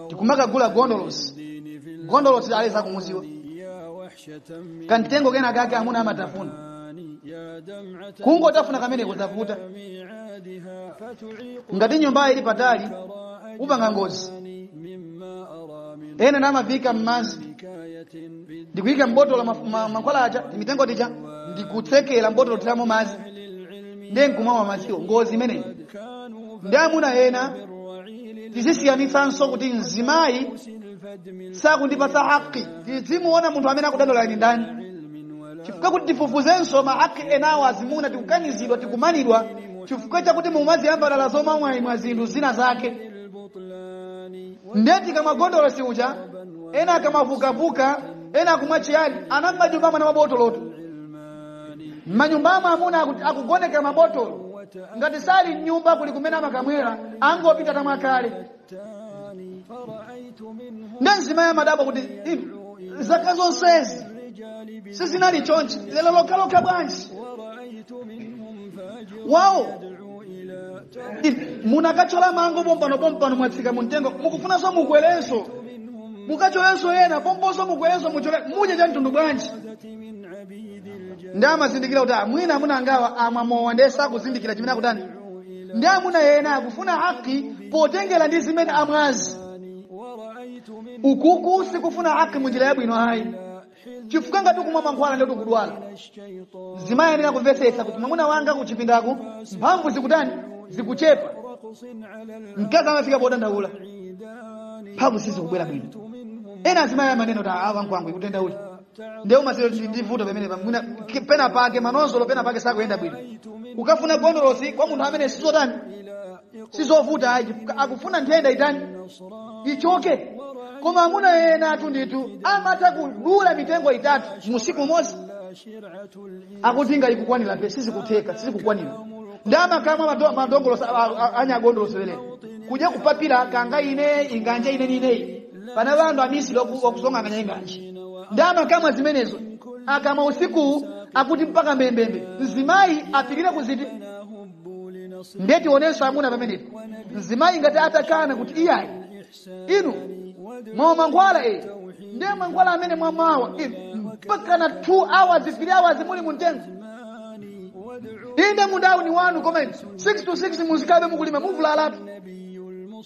tikumakagula gondolosi gondolosi aliyense akumuziwa kamtengo kena kake amuna amatafuna kungotafuna kameneko zavuta ngati nyumbayi ili patali upanga ngozi ena namavika mmazi ndikuyika mbotolo mankhwala aja timitengo tija ndikutsekera mbotolo thiramo mazi ndiye nkumamwa madziwo ngozi imeneyi ndi amuna ena tizisiyanitsanso kuti mzimayi sakundipatsa haki tizimuona munthu amene akudandaula ni ndani chifukwa kuti tifufuzenso mahaki enawo azimuna tikukanizidwa tikumanidwa chifukwa chakuti mumaziyamba dala zomamwaimwa zinthu zina zake nde tikamwa gondolosi uja ena akamwa vukavuka ena akumwa chiyani ena m'manyumbamu ana mabotolotu m'manyumbamo amuna aku- akugoneka mabotolo ngati sali m'nyumba kuli kumene amakamwera angopita atamwa kale nde mzimayi amadabwa kuti "Inu, zaka zonsezi sizinali chonchi lero lokhalokha bwanji wawo munakatchola mango pompano pompano mwatsika mumtengo mukufunanso mukwerenso mukatcholenso ena pomponso mukwerenso mutchole mudye cha mtundu bwanji ndi amazindikira kuti mwina amuna angawa amwa mowa ndiye sakuzindikira chimene akutani ndi amuna ena akufuna haki potengera ndi zimene amwazi ukuku sikufuna haki munjira yabwino ayi chifukwa ngati kumwa mankhwala nde tikudwala mzimayi ayenera kumvetsetsa kuti mwamuna wanga kuchipindako mphamvu zikutani zikuchepa mkazi amafika podandaula mphamvu sizikubwera bwino ena azimayi amanena kuti awa nkwangu ikutendaula ndiye umaziwa ndi vuto pamenepa mwina pena pake manozolo pena pake sakuyenda bwino ukafuna gondolosi kwa munthu amene sizotani sizovuta ayi akufuna nthenda itani ichoke koma amuna ena athu ndithu amatha kudula mitengo itatu musiku umodzi akuti ngaikukwanira pe sizikutheka sizikukwanira ndi amakamwa mado- madongolosi a- a- a- anyagondolosi leleni kuja kupapira kanga ine inganja ine nineyi pana wandu amisiri oku- okusonkhana enganji ndi amakamwa zimenezo akamwa usiku akuti mpaka mbembembe mzimayi apirire kuziti ndiye tionenso amuna pamenepo mzimayi ngati atakana kuti iyayi inu mwamwa mankhwala e ndiye mankhwala amene mwamawa inu mpaka na 2 hours 3 hours muli mumtengo inde mundawu ndi wanu koma nde 6 to 6 muzikhabe mukulima muvulalatu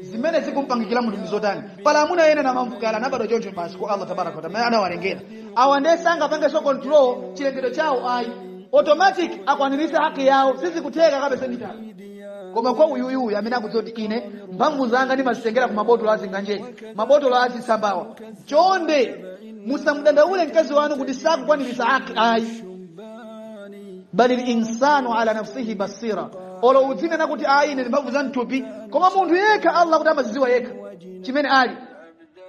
zimene zikumpangikira munthu ndi zotani pala amuna ena namamvuka anabadwa choncho basi kwa allah tabaraka wataala amene anawalengera awa ndiye sangapangenso control chilengedwe chawo ayi automatic akwaniritse haki yawo sizikutheka kabisa ndithu koma kwa uyuyuyu amene akudziwa kuti ine mphamvu zanga ndimazitengera ku mabotolo azinganje mabotolo azisambawa chonde musamudandaule mkazi wanu kuti sakukwaniritsa haki ayi balil insanu ala nafsihi basira olo udzinena kuti ayi ine ndimphamvu za mthupi koma munthu yekha allah kuti amazidziwa yekha chimene ali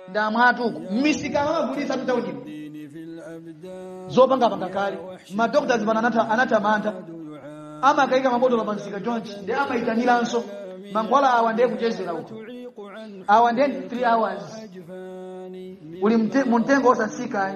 ndamwatu kumisika amagulitsa mtaunimo zopangapanga kale madokotala pano anatha anatha mantha amakaika mabotolo pa msika chonchi ndiye amayitaniranso mankhwala awa ndiye kuchezera uko awa ndiye 3 hours uli mte- mu mtengo osatsika